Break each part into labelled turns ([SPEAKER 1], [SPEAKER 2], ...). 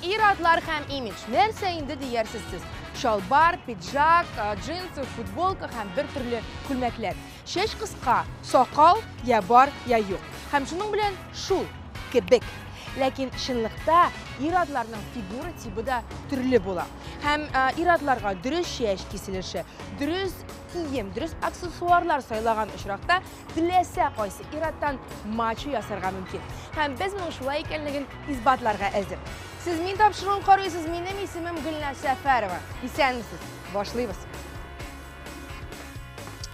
[SPEAKER 1] Ир-атлар һәм имидж. Нәрсә инде диярсез сез? Чалбар, пиджак, джинсы, футболка һәм бер төрле күлмәкләр. Чәч кыска, сакал я бар, я юк. Һәм шуның белән шул кебек. Ләкин чынлыкта ир-атларның фигура тибы да төрле була. Һәм ир-атларга дөрес чәч киселеше, дөрес кием, дөрес аксессуарлар сайлаган очракта теләсә кайсы ир-аттан мачо ясарга мөмкин. Һәм без моның шулай икәнлеген исбатларга әзер. Сез мин тапшыруын карыйсыз, минем исемем Гөлназ Сәфәрова. Исәнмесез, башлыйбыз.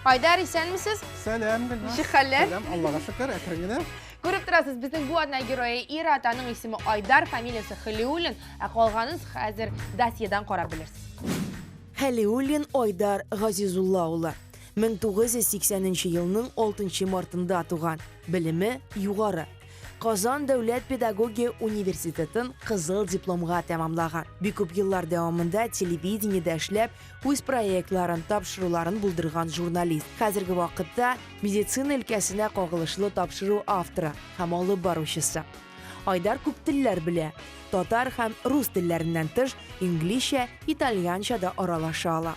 [SPEAKER 1] Айдар, исәнмесез? Сәлам, Гөлназ. Ничек
[SPEAKER 2] хәлләр? Сәлам, Аллага
[SPEAKER 1] шөкер,
[SPEAKER 2] әкрен генә. Күреп торасыз,
[SPEAKER 1] безнең бу атна герое ир ат, аның исеме Айдар, фамилиясе Хәлиуллин, ә калганын хәзер досьедан карап белерсез. Хәлиуллин
[SPEAKER 3] Айдар Газизулла улы. 1980 нче елның 6 мартында туган, белеме югары. Казан дәүләт педагогия университетын кызыл дипломга тәмамлаган. Бик күп еллар дәвамында телевидениедә эшләп, үз проектларын, тапшыруларын булдырган журналист. Хәзерге вакытта медицина өлкәсенә кагылышлы тапшыру авторы һәм алып баручысы. Айдар күп телләр белә. Татар һәм рус телләреннән тыш, инглизчә, итальянча да аралаша ала.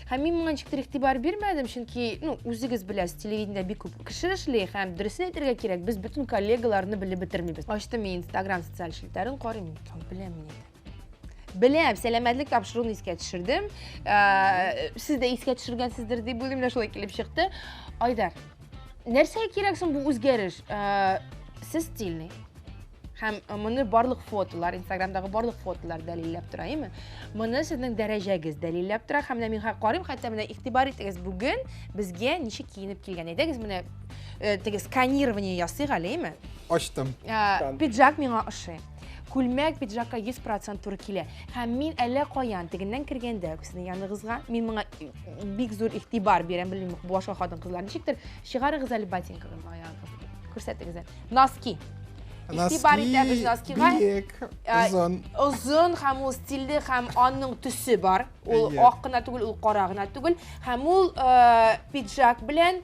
[SPEAKER 1] Һәм мин моңа ничектер игътибар бирмәдем, чөнки, ну, үзегез беләсез, телевидениедә бик күп кеше эшли һәм дөресен әйтергә кирәк, без бөтен коллегаларны белеп бетермибез. Ачтым мин Instagram социаль челтәрен карыйм, икән, беләм мин инде. Беләм, сәламәтлек тапшыруын искә төшердем. Ә, Сез дә искә төшергәнсездер дип уйлыйм, менә шулай килеп чыкты. Айдар, нәрсә кирәк соң бу үзгәреш? Ә, Сез стильный. һәм э, моны барлык фотолар инстаграмдагы барлык фотолар дәлилләп тора әйме моны сезнең дәрәҗәгез дәлилләп тора һәм менә мин карыйм хәтта менә игътибар итегез бүген безгә ничек киенеп килгән әйдәгез менә э, теге сканирование ясыйк әле әйме ачтым э,
[SPEAKER 2] пиджак
[SPEAKER 1] миңа ошый күлмәк пиджакка 100 процент туры килә һәм мин әллә каян тегеннән кергәндә сезнең яныгызга мин моңа бик зур игътибар бирәм белмим башка хатын кызлар ничектер Чыгарыгыз әле ботинкагыз аягыгыз. Күрсәтегез әле. Носки. Истибар итәбез носкига. Биек,
[SPEAKER 2] озын. Озын һәм
[SPEAKER 1] ул стильле һәм аның төсе бар. Ул ак кына түгел, ул кара гына түгел. Һәм ул пиджак белән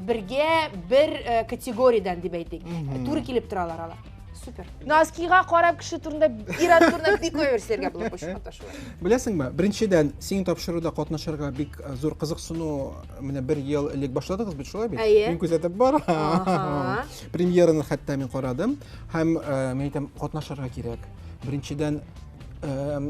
[SPEAKER 1] бергә бер категориядән дип әйтик. Туры килеп торалар алар супер носкига карап кеше турында ир ат турында бик күп нәрсәләргә булып очрашуы беләсеңме беренчедән
[SPEAKER 2] синең тапшыруда катнашырга бик э, зур кызыксыну Менә бер ел элек башладыгыз бит, шулай бит? Әйе. Мин күзәтеп барам. Премьераны хәтта мин карадым һәм э, мин әйтәм, катнашырга кирәк. Беренчедән,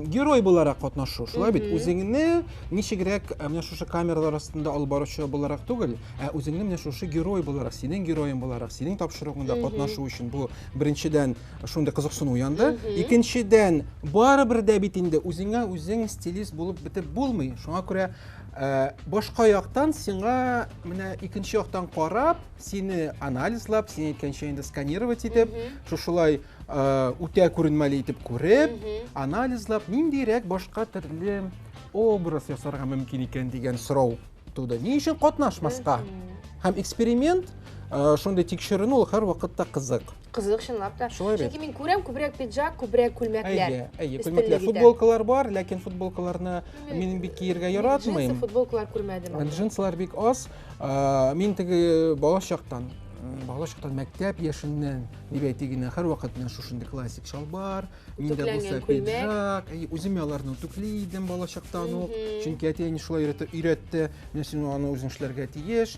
[SPEAKER 2] герой буларак катнашу шулай бит үзеңне ничегрәк э, менә шушы камералар астында алып баручы буларак түгел ә үзеңне менә шушы герой буларак синең героең буларак синең тапшыруыңда катнашу өчен бу беренчедән шундый кызыксыну уянды икенчедән барыбер дә бит инде үзеңә үзең стилист булып бетеп булмый шуңа күрә Э, башка яктан сиңа менә икенче яктан карап сине анализлап син әйткәнчә инде сканировать итеп шушылай э, үтә күренмәле итеп күреп анализлап ниндирәк башка төрле образ ясарга мөмкин икән дигән сорау туды ни өчен катнашмаска һәм эксперимент э, шундый тикшеренү ул һәрвакытта кызык Кызык, чынлап
[SPEAKER 1] та. Шулай бит. Чөнки мин күрәм күбрәк пиджак, күбрәк күлмәкләр. Әйе, әйе, күлмәкләр. Футболкалар
[SPEAKER 2] бар, ләкин футболкаларны мин бик киергә яратмыйм. Джинсы футболкалар
[SPEAKER 1] күрмәдем. Джинсылар бик аз.
[SPEAKER 2] Мин теге бала чактан бала чактан мәктәп яшеннән дип әйтик инде һәрвакыт менә шушындый классик чалбар миндә булса пиджак үзем аларны үтүкли идем балачактан ук чөнки әти әни шулай өйрәтте менә син аны үзең эшләргә тиеш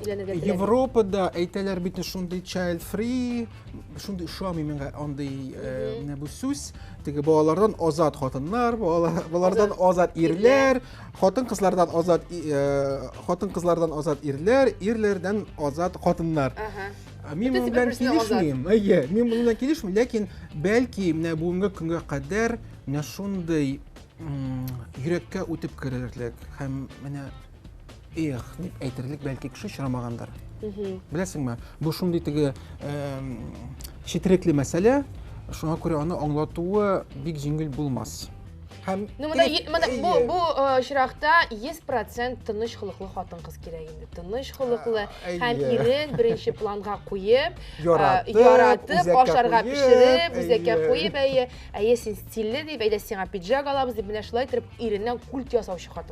[SPEAKER 1] өйләнергә теләми. Европада
[SPEAKER 2] әйтәләр бит шундый child free, шундый ошамый миңа андый менә бу сүз. Теге балалардан азат хатыннар, балалардан азат ирләр, хатын-кызлардан азат хатын-кызлардан азат ирләр, ирләрдән азат хатыннар. Мин моның белән килешмим. Әйе, мин моның белән килешмим, ләкин бәлки менә бүгенге көнгә кадәр менә шундый йөрәккә үтеп керерлек һәм менә эх дип әйтерлек бәлки кеше очрамагандыр беләсеңме бу шундый теге четерекле мәсьәлә шуңа күрә аны аңлатуы бик җиңел булмас һәм ну мына мына бу
[SPEAKER 1] бу очракта йөз процент тыныч холыклы хатын кыз кирәк инде тыныч холыклы һәм ирен беренче планга куеп яратып ашарга пешереп үзәккә куеп әйе әйе син стильле дип әйдә сиңа пиджак алабыз дип менә шулай итеп иреннән культ ясаучы хатын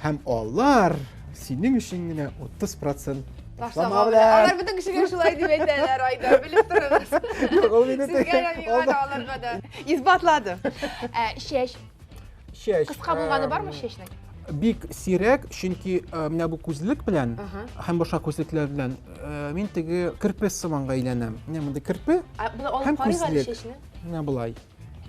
[SPEAKER 2] Һәм алар синең өчен генә 30 процент ташлама белән.
[SPEAKER 1] Алар бөтен кешегә шулай дип әйтәләр, Айдар, белеп торыгыз. Юк, ул мине Сезгә дә, миңа да, аларга да. Исбатлады. Ә, чәч. Чәч. Кыска булганы бармы чәчнең? Бик
[SPEAKER 2] сирәк, чөнки менә бу күзлек белән һәм башка күзлекләр белән мин теге керпе сыманга әйләнәм. Менә монда керпе һәм күзлек. Менә болай.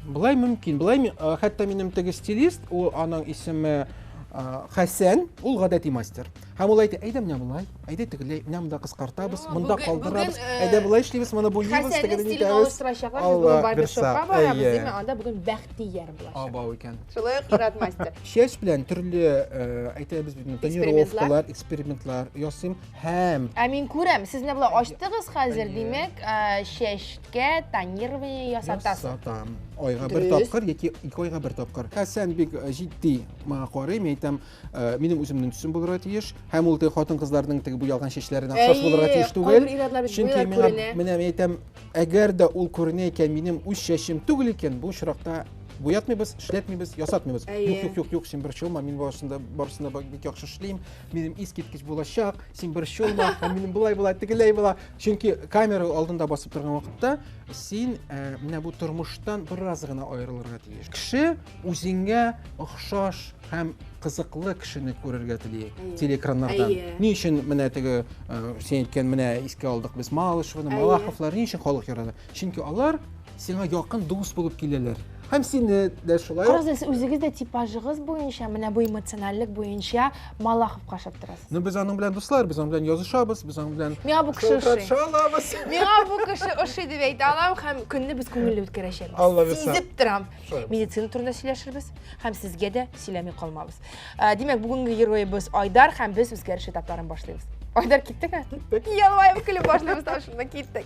[SPEAKER 2] Былай мөмкин. Былай ми- а, хәтта минем теге стилист, ул аның исеме а, Хәсән, ул гадәти мастер. Һәм ул әйтә, әйдә менә болай, әйдә тегеләй, менә монда кыскартабыз, Ну, монда бүген- калдырабыз, бүген, э, әйдә болай эшлибез, моны буйыйбыз, Хәсәннең тегеләй стилен итәбез. алыштырачаклар. Без Алла бүген барбершопка бирса, барабыз, әйе. димә, анда бүген Бәхтияр булачак. Абау икән. Шулай ук Ират
[SPEAKER 1] мастер. Чәч белән төрле,
[SPEAKER 2] э, әйтәбез бит, Экспериментлар. тонировкалар, экспериментлар ясыйм һәм Ә мин күрәм, сез
[SPEAKER 1] менә болай ачтыгыз хәзер, Әйе. димәк, ә, чәч итлеккә тонирование ясатасыз. Ясатам. Айга
[SPEAKER 2] бер тапкыр яки ике айга бер тапкыр. Хәсән бик э, җитди моңа карый, мин әйтәм, э, минем үземнең төсем булырга тиеш. Һәм ул хатын-кызларның теге буялган чәчләренә охшаш булырга тиеш түгел. Чөнки миңа менә мин әйтәм, әгәр дә ул күренә икән, минем үз чәчем түгел икән, бу очракта буятмыйбыз, эшләтмибез, ясатмыйбыз. Юк, юк, юк, юк, син бер чулма, мин барысында барысында бик яхшы эшлим, минем искиткеч булачак, син бер чулма, һәм минем булай була, тегеләй була. Чөнки камера алдында басып торган вакытта син э, менә бу тормыштан бераз гына аерылырга тиеш. Кеше үзеңә охшаш һәм кызыклы кешене күрергә тели телеэкраннардан. Ни өчен менә теге э, син әйткән менә искә алдык без Малышевны, Малаховлар ни өчен халык ярады? Чөнки алар сиңа якын дус булып киләләр. Һәм сине дә шулай. Карагыз, үзегез дә
[SPEAKER 1] типажыгыз буенча, менә бу эмоциональлек буенча Малаховка ошап торасыз. Ну без аның белән дуслар,
[SPEAKER 2] без аның белән язышабыз, без аның белән Миңа бу кеше ошый.
[SPEAKER 1] Шалабыз. Миңа
[SPEAKER 2] бу кеше
[SPEAKER 1] ошый дип әйтә алам һәм көнне без күңелле үткәрәчәкбез. Алла бирса. Сизеп торам. Медицина турында сөйләшербез һәм сезгә дә сөйләми калмабыз. Э, димәк, бүгенге героебыз Айдар һәм без үзгәреш этапларын башлыйбыз. Айдар киттеме? Киттек. Ялваеп көлеп башлыйбыз, шунда киттек.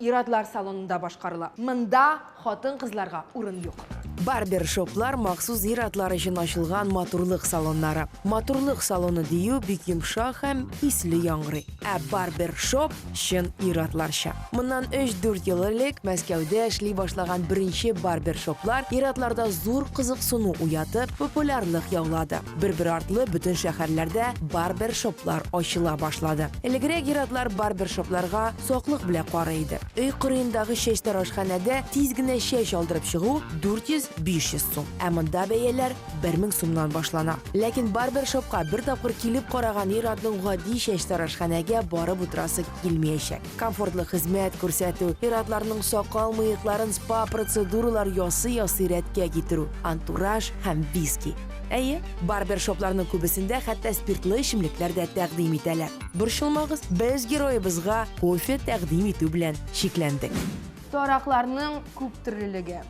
[SPEAKER 1] Ир-атлар салонында башкарыла. Монда хатын-кызларга урын юк. Барбершоплар
[SPEAKER 3] махсус ир-атлар өчен ачылган матурлык салоннары. Матурлык салоны дию бик йомшак һәм исле яңгырый. Ә барбершоп чын ир-атларча. Моннан өч-дүрт ел элек Мәскәүдә эшли башлаган беренче барбершоплар ир-атларда зур кызыксыну уятып, популярлык яулады. Бер-бер артлы бөтен шәһәрләрдә барбершоплар ачыла башлады. Элегрәк ир-атлар барбершопларга саклык белә карый иде. Өй кырыендагы чәч тарашханәдә тиз генә чәч алдырып чыгу 400-500 сум, ә монда бәяләр 1000 сумнан башлана. Ләкин барбершопка бер тапкыр килеп караган ир-атның гади чәч тарашханәгә барып утырасы килмиячәк. Комфортлы хезмәт күрсәтү, ир-атларның сакал-мыекларын спа-процедуралар ясый-ясый рәткә китерү, антураж һәм виски. Әйе, барбершопларның күбесендә хәтта спиртлы эчемлекләр дә тәкъдим итәләр. Борчылмагыз, без героебызга кофе тәкъдим итү белән чикләндек. Таракларның
[SPEAKER 1] күптөрлелеге,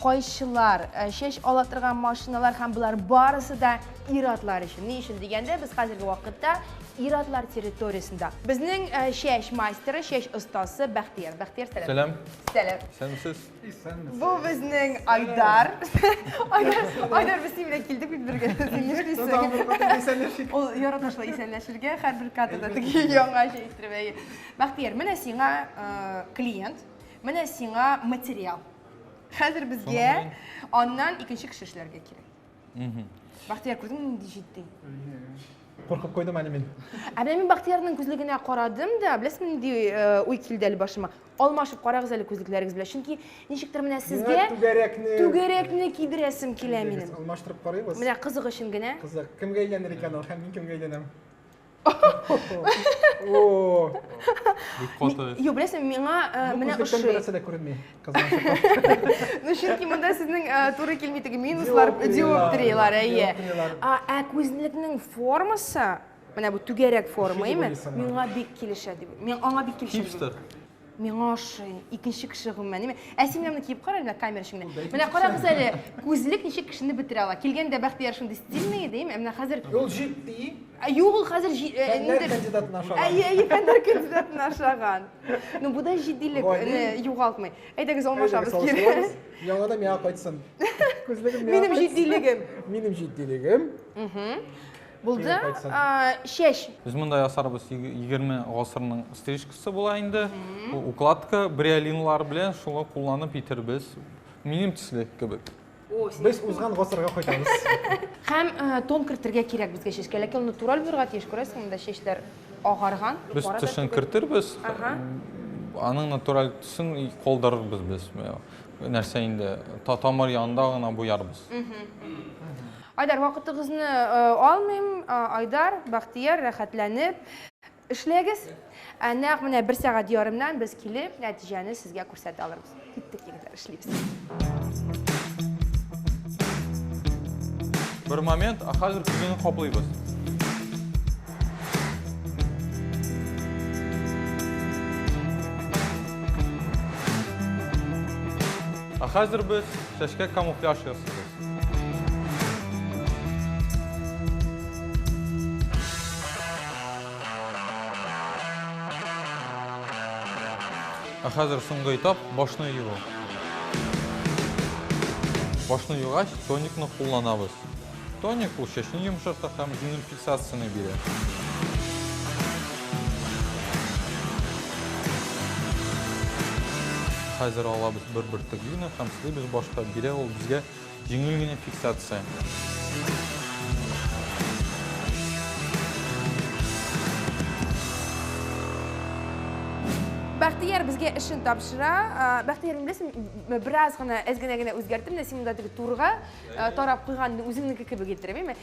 [SPEAKER 1] кайчылар, чәч ала торган машиналар һәм болар барысы да ир-атлар өчен. Ни өчен дигәндә, без хәзерге вакытта ир-атлар территориясендә. Безнең чәч мастеры, чәч остасы Бәхтияр. Бәхтияр, сәлам. Сәлам. Сәлам. Исәнмесез. Бу
[SPEAKER 4] безнең
[SPEAKER 1] Айдар. Айдар, Айдар без синең белән килдек бит бергә. Син нишлисең? Ул ярата шулай исәнләшергә, һәрбер кадрда теге яңа җәй иттереп әйе. Бәхтияр, менә сиңа клиент, менә сиңа материал. Хәзер безгә аннан икенче кеше эшләргә кирәк. Бәхтияр, күрдеңме нинди җитди?
[SPEAKER 2] Куркып куйдым әле мин. Ә менә мин Бәхтиярның
[SPEAKER 1] күзлегенә карадым да, беләсеңме нинди уй килде әле башыма? Алмашып карагыз әле күзлекләрегез белән, чөнки ничектер менә сезгә Миңа түгәрәкне түгәрәкне кидерәсем килә минем. Алмаштырып карыйбыз. Менә
[SPEAKER 2] кызык өчен генә.
[SPEAKER 1] Кызык. Кемгә әйләнер
[SPEAKER 2] икән ул һәм мин кемгә әйләнәм?
[SPEAKER 1] Юк, беләсең, миңа э, менә ошый. Берәрсә дә күренми.
[SPEAKER 2] Ну, чөнки монда
[SPEAKER 1] сезнең э, туры килми теге минуслар, диоптрилар, әйе. Ә күзлекнең формасы Менә бу түгәрәк форма, име? Миңа бик килешә дип. Мин аңа бик килешә. Хипстер.
[SPEAKER 4] Миңа
[SPEAKER 1] ошый. Икенче кеше гомумән, име? Ә син менә киеп кара әле камера эчендә. Менә карагыз әле, күзлек ничек кешене бетерә ала. Килгәндә Бәхтияр шундый стильный иде, име? Менә хәзер Ул җитди.
[SPEAKER 2] Ә юк, ул хәзер
[SPEAKER 1] ниндер кандидатын
[SPEAKER 2] ашаган. Әйе, әйе, фәннәр
[SPEAKER 1] кандидатын ашаган. Ну, бу да җитдилек югалтмый. Әйдәгез, алмашабыз кире. Яңа да миңа
[SPEAKER 2] кайтсын. Күзлегем миңа. Минем җитдилегем.
[SPEAKER 1] Минем җитдилегем.
[SPEAKER 2] Угу.
[SPEAKER 1] Булды, чәч. Без монда ясарбыз
[SPEAKER 4] 20 гасырның стрижкасы була инде. Укладка бриолинлар белән шуны кулланып итербез. Минем төсле кебек. Без узган
[SPEAKER 2] гасырга кайтабыз. Һәм
[SPEAKER 1] тон кертергә кирәк безгә чәчкә, ләкин ул натураль булырга тиеш, күрәсең, монда чәчләр агарган. Без төшен
[SPEAKER 4] кертербез, аның натураль төсен калдырырбыз без. Нәрсә инде, тамыр янында гына буярбыз.
[SPEAKER 1] Айдар, вакытыгызны алмыйм. Айдар, Бахтияр, рәхәтләнеп эшләгез. Ә нәкъ менә бер сәгать ярымнан без килеп, нәтиҗәне сезгә күрсәтә алырбыз. Киттек, егетләр, эшлибез.
[SPEAKER 4] Бер момент, ә хәзер күзеңне каплыйбыз. Ә хәзер без чәчкә камуфляж ясыйбыз. Ә хәзер соңгы этап, башны юу. Башны югач, тоникны кулланабыз. Тоник ул чәчне йомшарта һәм үзенең Сасыны бирә. Хәзер алабыз бер бөртек глина һәм сылыйбыз башка. Бирә ул безгә җиңел генә фиксация.
[SPEAKER 1] Бәхтияр безгә эшен тапшыра. Бәхтияр, мин беләсең, бераз гына әз генә генә үзгәртеп, менә син монда теге турыга тарап куйган үзеңнеке кебек иттереп, әйме?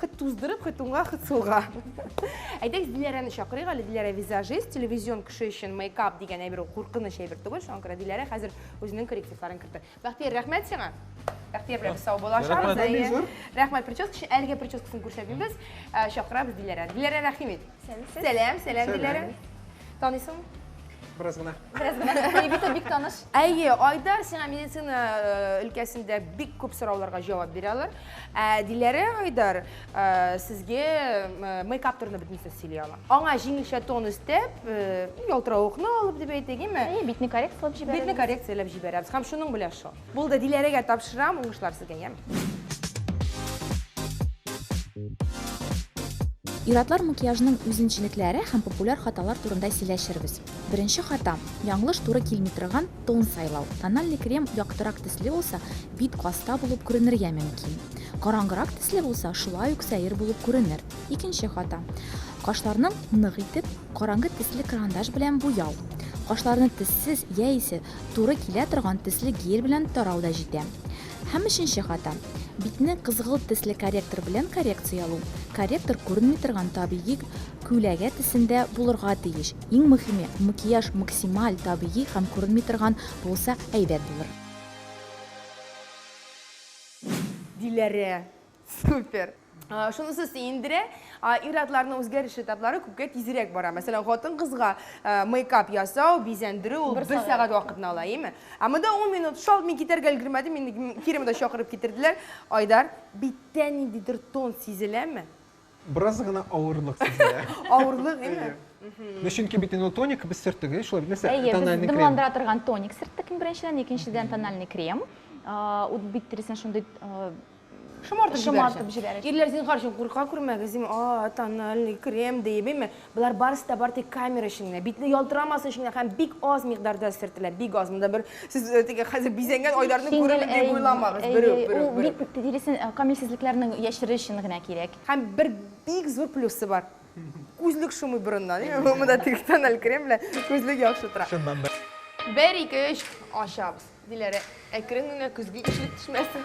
[SPEAKER 1] Хет туздырып, хет уңга, хет сулга. Әйдәгез, Диләрәне чакырыйк әле. Диләрә визажист, телевизион кеше өчен мейкап дигән әйбер ул куркыныч әйбер түгел. Шуңа күрә Диләрә хәзер үзенең коррективларын кертер. Бәхтияр, рәхмәт сиңа. Бәхтияр белән без сау булашабыз. Рәхмәт. Рәхмәт прическа өчен. Әлегә прическасын күрсәтмибез. Ә, Чакырабыз Диләрәне. Диләрә, рәхим ит. Сәлам, сәлам, Диләрә. Танисың? Бераз
[SPEAKER 2] гына. Бераз гына. Егите бик
[SPEAKER 1] таныш. Әйе, Айдар сиңа медицина э, өлкәсендә бик күп сорауларга җавап бирә алар. Ә Диләрә Айдар э, сезгә э, мейкап турында бөтен сүз сөйли ала. Аңа җиңелчә тон өстәп, э, ялтыравыкны алып дип әйтик, име? Әйе, битне коррекцияләп җибәрәбез.
[SPEAKER 5] Битне коррекцияләп җибәрәбез
[SPEAKER 1] һәм шуның белән шул. Булды, Диләрәгә тапшырам, уңышлар сезгә, яме.
[SPEAKER 5] Ир-атлар макияжының үзенчелекләре һәм популяр хаталар турында сөйләшербез. Беренче хата, яңлыш туры килми торган тон сайлау. Тональный крем яктырак төсле булса, бит каста булып күренергә мөмкин. Караңгырак төсле булса, шулай ук сәер булып күренер. Икенче хата, кашларны нык итеп, караңгы төсле карандаш белән буяу. Кашларны төссез яисә Туры килә торган төсле гель белән тарау да җитә. Һәм өченче хата, битне кызгылт төсле корректор белән коррекциялу, корректор күренми торган табигый күләгә төсендә булырга тиеш, иң мөхиме, макияж максималь табигый һәм күренми торган булса әйбәт булыр.
[SPEAKER 1] Диләрә. Супер! Шунысы сөендерә, ир-атларның үзгәреш этаплары күпкә тизрәк бара. Мәсәлән, хатын-кызга мейкап ясау, бизәндерү ул бер сәгать вакытны ала, әйеме? Ә монда ун минут, шалт мин китәргә өлгермәдем, мине кире монда чакырып китерделәр. Айдар, биттә ниндидер тон сизеләме? Бераз гына
[SPEAKER 2] авырлык сизелә. Авырлык, әйе.
[SPEAKER 1] Ну, чөнки бит
[SPEAKER 2] инде тоник без сөрттек, әйе шулай бит, нәрсә? Әйе, без дымландыра торган тоник
[SPEAKER 5] сөрттек иң беренчедән, икенчедән тональный крем. Ут бит тиресен шундый шомартып
[SPEAKER 1] җибәрәчәк. Ирләр, зинһар өчен, курка күрмәгез, дим, а, тональный крем диеп, әйме? Болар барысы да бары тик камера өчен генә, битне ялтырамасы өчен генә һәм бик аз микъдарда сөртелә, бик аз. Монда бер сез э, теге хәзер бизәнгән Айдарны күрермен дип уйламагыз. Берүк, берүк, берүк. Бит
[SPEAKER 5] тиресен э, камилсезлекләрнең яшерер өчен генә кирәк. Һәм бер бик
[SPEAKER 1] зур плюсы бар. Күзлек шумый борыннан. Монда теге тоннель крем белән күзлек яхшы тора. Шуннан да.
[SPEAKER 2] Бер, ике, өч,
[SPEAKER 1] ачабыз. Диләрә, әкрен генә көзге ишелеп төшмәсен.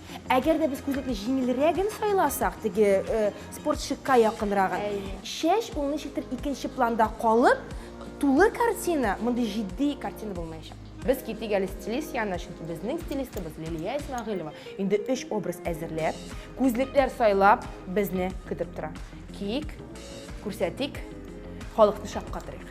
[SPEAKER 1] Әгәр дә без күзлекне җиңелрәген сайласак, теге э, спортчыкка якынрагын, Әйе. чәч ул ничектер икенче планда калып, тулы картина, мондый җитди картина булмаячак. Без китик әле стилист янына, чөнки безнең стилистыбыз Лилия Исмәгыйлова инде өч образ әзерләп, күзлекләр сайлап безне көтеп тора. Киик, күрсәтик, халыкны шаккатырыйк.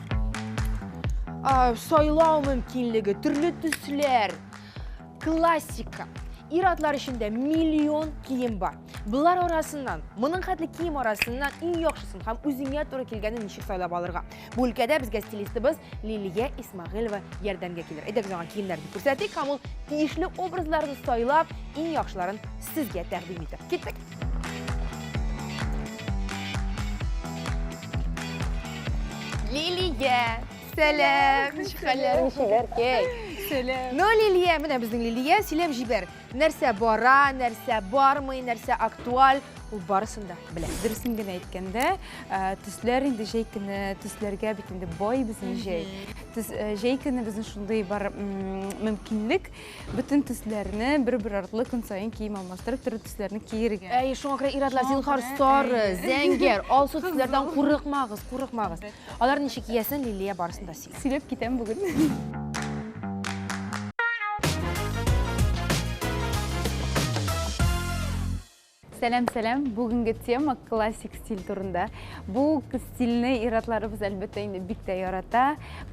[SPEAKER 1] сайлау мөмкинлеге, төрле төсләр, классика. Ир атлар эчендә миллион кием бар. Болар арасыннан, моның хәтле кием арасыннан иң яхшысын һәм үзеңә туры килгәнен ничек сайлап алырга. Бу өлкәдә безгә стилистыбыз Лилия Исмагыйлова ярдәмгә килер. Әйдәк аңа киемнәрне күрсәтик һәм ул тиешле образларны сайлап, иң яхшыларын сезгә тәкъдим итер. Киттек. Лилия, сәлам. Ничек хәлләрең, Шибәркәй? Сәлам. Ну, Лилия, менә безнең Лилия, сөйләп җибәр. Нәрсә бара, нәрсә бармый, нәрсә актуаль, ул барысын да белә. Дөресен генә әйткәндә,
[SPEAKER 6] төсләр инде җәй көне, төсләргә бит инде бай безнең җәй. Җәй көне безнең шундый бар мөмкинлек, Бөтен төсләрне бер-бер артлы көн саен кием алмаштырып, төрле төсләрне киергә. Әй, шуңа күрә ир-атлар,
[SPEAKER 1] зинһар, сары, зәңгәр, алсу төсләрдән курыкмагыз, курыкмагыз. Алар ничек киясен Лилия барысын да сөйли. Сөйләп китәм бүген.
[SPEAKER 6] Сәлам сәлам! Бүгенге тема классик стиль турында. Бу стильне иратларыбыз әлбәттә инде бик тә ярата.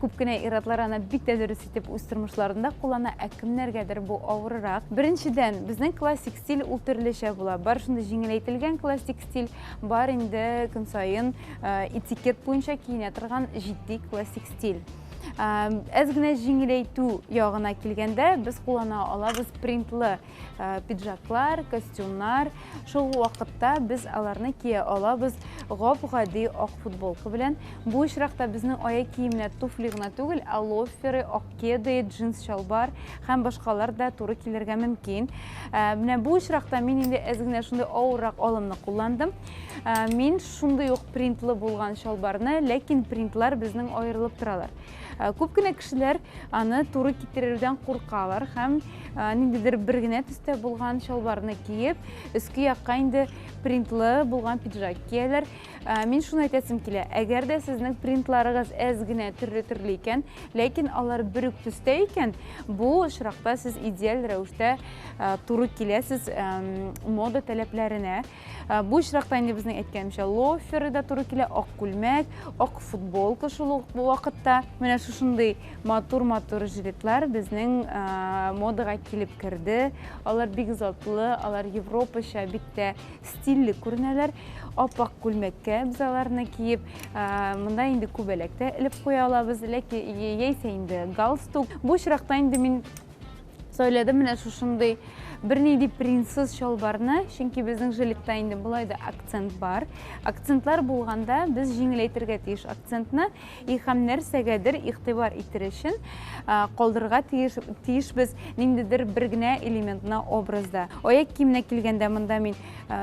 [SPEAKER 6] Күп кенә иратлар аны бик тә дөрес итеп үз тормышларында куллана, ә кемнәргәдер бу авырырак. Беренчедән, безнең классик стиль ул төрлечә була. Бар шундый җиңеләйтелгән классик стиль, бар инде көн саен э, этикет буенча киенә торган җитди классик стиль. Әз генә җиңеләйтү ягына килгәндә, без куллана алабыз принтлы Э, пиджаклар, костюмнар. Шул вакытта без аларны кия алабыз гап-гади ак футболка белән. Бу очракта безнең аяк киемнәр туфли гына түгел, ә лоферы, ак кеды, джинс чалбар һәм башкалар да туры килергә мөмкин. Э, менә бу очракта мин инде әз генә шундый авыррак алымны кулландым. Э, мин шундый ук принтлы булган чалбарны, ләкин принтлар безнең аерылып торалар. Э, күп кенә кешеләр аны туры китерердән куркалар һәм э, ниндидер бер генә төстә булган чалбарны киеп өске якка инде принтлы булган пиджак кияләр э, мин шуны әйтәсем килә әгәр дә сезнең принтларыгыз әз генә төрле төрле икән ләкин алар бер үк төстә икән бу очракта сез идеаль рәвештә туры киләсез мода таләпләренә Ә, бу очракта инде безнең әйткәнемчә лоферы да туры килә, ак күлмәк, ак футболка шул ук вакытта. Менә шушындый матур-матур жилетлар безнең ә, модага килеп керде. Алар бик затлы, алар европача, бик тә стильле күренәләр. Ап-ак күлмәккә без аларны киеп, ә, монда инде күбәләк тә элеп куя алабыз, ләки яисә инде галстук. Бу очракта инде мин Сөйләдем менә шушындый бернинди принтсыз чалбарны, чөнки безнең жилетта инде болай да акцент бар. Акцентлар булганда без җиңеләйтергә тиеш акцентны и һәм нәрсәгәдер игътибар итер өчен калдырырга тиеш тиешбез ниндидер бер генә элементны образда. Аяк киеменә килгәндә монда мин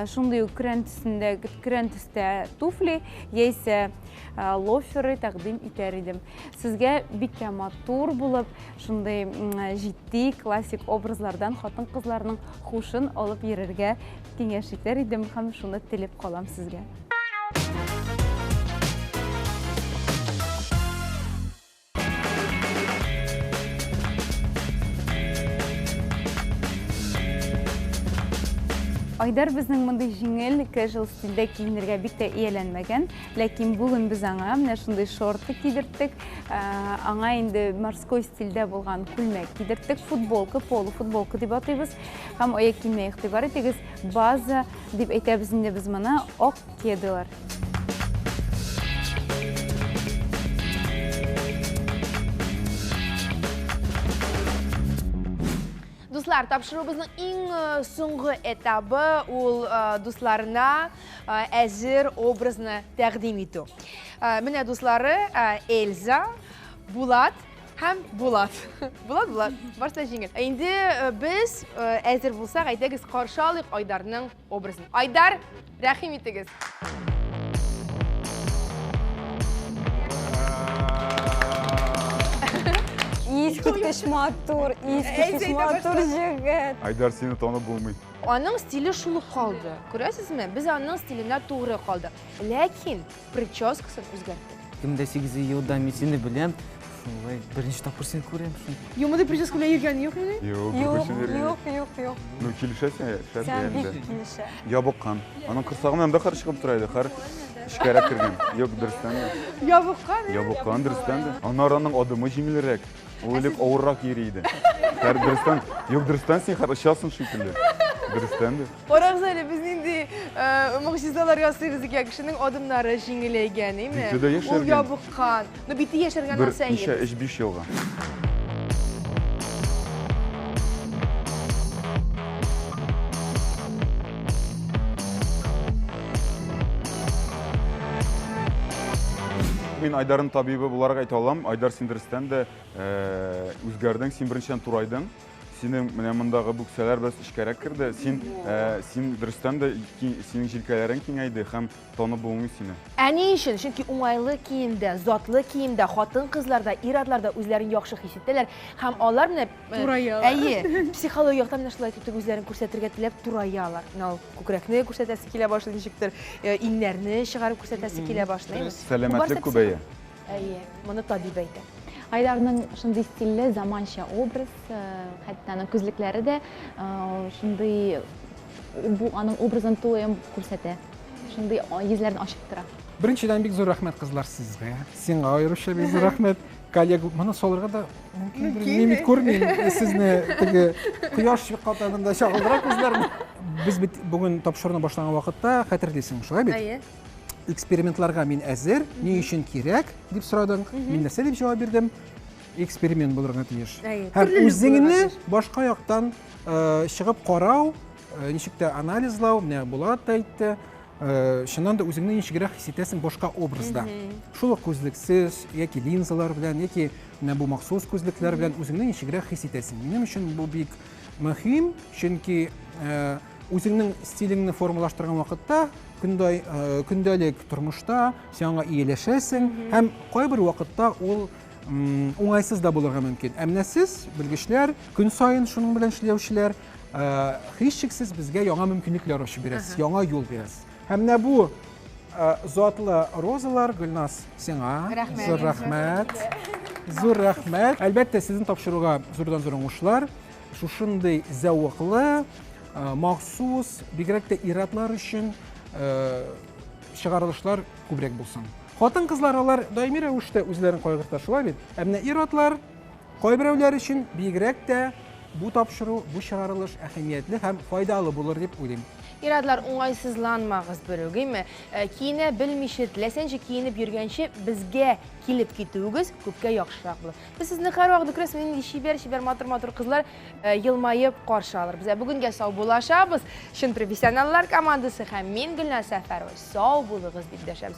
[SPEAKER 6] шундый ук көрән төсендә көрән төстә туфли яисә лоферы тәкъдим итәр идем. Сезгә бик тә матур булып, Шундый җитди, классик образлардан хатын-кызларның хушын алып йөрергә киңәш итәр идем һәм шуны телеп калам сезгә. Айдар безнең мондый җиңел, casual стильдә киенергә бик тә ияләнмәгән. Ләкин бүген без аңа менә шундый шорты кидерттек, ә, аңа инде морской стильдә булган күлмәк кидерттек, футболка, полу футболка дип атыйбыз. Һәм аяк киеменә игътибар итегез, база дип әйтәбез инде без моны, ак кедалар.
[SPEAKER 1] Дуслар, тапшыруыбызның иң э, соңгы этабы ул э, дусларына әзер образны тәкъдим итү. Менә дуслары Эльза, Булат һәм Булат. Булат, Булат, барса җиңел. Инде без әзер булсак, әйдәгез каршы алыйк Айдарның образын. Айдар, рәхим итегез.
[SPEAKER 7] Искиткеч матур, искиткеч матур җегет. Айдар, сине
[SPEAKER 8] танып булмый. Аның стиле шул
[SPEAKER 1] ук калды. Күрәсезме, без аның стиленә тугры калдык. Ләкин прическасын үзгәрттек. Кем дә сигезе елда
[SPEAKER 9] мин сине беләм, шулай беренче тапкыр сине күрәм шул. Юмыды прическа белән
[SPEAKER 1] йөргән юк мени? Юк, юк, юк, юк,
[SPEAKER 7] юк. Ну, килешә
[SPEAKER 8] сиңа, шәп дә инде. Сиңа бик килешә.
[SPEAKER 7] Ябыккан. Аның
[SPEAKER 8] корсагыннан бер кыр чыгып тора иде, хәр эчкәрәк кергән. Юк, дөрестән дә. Ябыккан, ә? Ябыккан, дөрестән дә. Аннары аның адымы җиңелрәк. Үлеп авыррак йөри иде. Дөрестән, юк дөрестән син хәзер очасың шикелле. Дөрестән дә. Карагыз әле,
[SPEAKER 1] без нинди э, могҗизалар ясыйбыз икән. Кешенең адымнары җиңеләйгән, име? Бите дә яшәргән. Ул ябыккан.
[SPEAKER 8] Ну,
[SPEAKER 1] бите яшәргән Бер нәрсә ничә, өч, биш
[SPEAKER 8] елга. Мин Айдарын табибы буларак әйтә алам. Айдар син дөрестән дә э, үзгәрдең, син беренчедән турайдың. Синең менә мондагы бүксәләр бераз эчкәрәк керде. Син э, син дөрестән дә ки- синең җилкәләрең киңәйде һәм танып булмый сине. Ә ни өчен? Чөнки
[SPEAKER 1] уңайлы киемдә, затлы киемдә хатын-кызлар да, ир-атлар да үзләрен яхшы хис итәләр һәм алар менә Тураялар. Әйе, психология яктан менә шулай түтек үзләрен күрсәтергә теләп тураялар. Менә ул күкрәкне күрсәтәсе килә башлый ничектер, э, иңнәрне чыгарып күрсәтәсе килә башлый. Сәламәтлек күбәя.
[SPEAKER 8] Әйе,
[SPEAKER 1] моны табиб әйтә. Айдарның
[SPEAKER 5] шундый стильле, заманча образ, э, хәтта аның күзлекләре дә э, шундый бу аның образын тулаем күрсәтә. Шундый йөзләрен ачып тора. Беренчедән бик зур рәхмәт
[SPEAKER 2] кызлар сезгә. Сиңа аеруча бик зур рәхмәт. коллега моны салырга да мөмкин мин бит күрмим сезне теге кояш чыккатагында чагылдырак үзләрне без бит бүген тапшыруны башлаган вакытта хәтерлисең шулай бит әйе
[SPEAKER 1] экспериментларга
[SPEAKER 2] мин әзер ни өчен кирәк дип сорадың мин нәрсә дип җавап бирдем эксперимент булырга тиеш һәм үзеңне башка яктан э, чыгып карау э, ничек тә анализлау менә булат та әйтте Э, чыннан да үзеңне ничегрәк хис итәсең башка образда шул ук күзлексез яки линзалар белән яки менә бу махсус күзлекләр белән үзеңне ничегрәк хис итәсең минем өчен бу бик мөһим чөнки э, үзеңнең стилеңне формалаштырган вакытта көндай э, көндәлек тормышта син аңа ияләшәсең һәм кайбер вакытта ул уңайсыз да булырга мөмкин ә менә сез белгечләр көн саен шуның белән эшләүчеләр һичшиксез безгә яңа мөмкинлекләр ачып бирәс, яңа юл бирәс. Һәм менә бу затлы розалар Гөлназ сиңа зур рәхмәт. Зур рәхмәт. Әлбәттә, сезне тапшыруга зурдан зур уңышлар. Шушындый зәвыклы, махсус, бигрәк тә иратлар өчен чыгарылышлар күбрәк булсын. Хатын-кызлар алар даими рәвештә үзләрен кайгырта шулай бит? Ә менә ир-атлар Кайберәүләр өчен бигрәк тә бу тапшыру, бу чыгарылыш әһәмиятле һәм файдалы булыр дип уйлыйм. Ир-атлар,
[SPEAKER 1] уңайсызланмагыз, берүгеме, киенә белмичә, теләсәнчә киенеп йөргәнче, безгә килеп китүегез күпкә яхшырак булыр. Без сезне һәрвакыт күрәсез, нинди чибәр-чибәр, матур-матур кызлар елмаеп каршы алырбыз. Ә бүгенгә сау булашабыз, чын профессионаллар командасы һәм мин, Гөлназ Сәфәрова, сау булыгыз дип дәшәбез.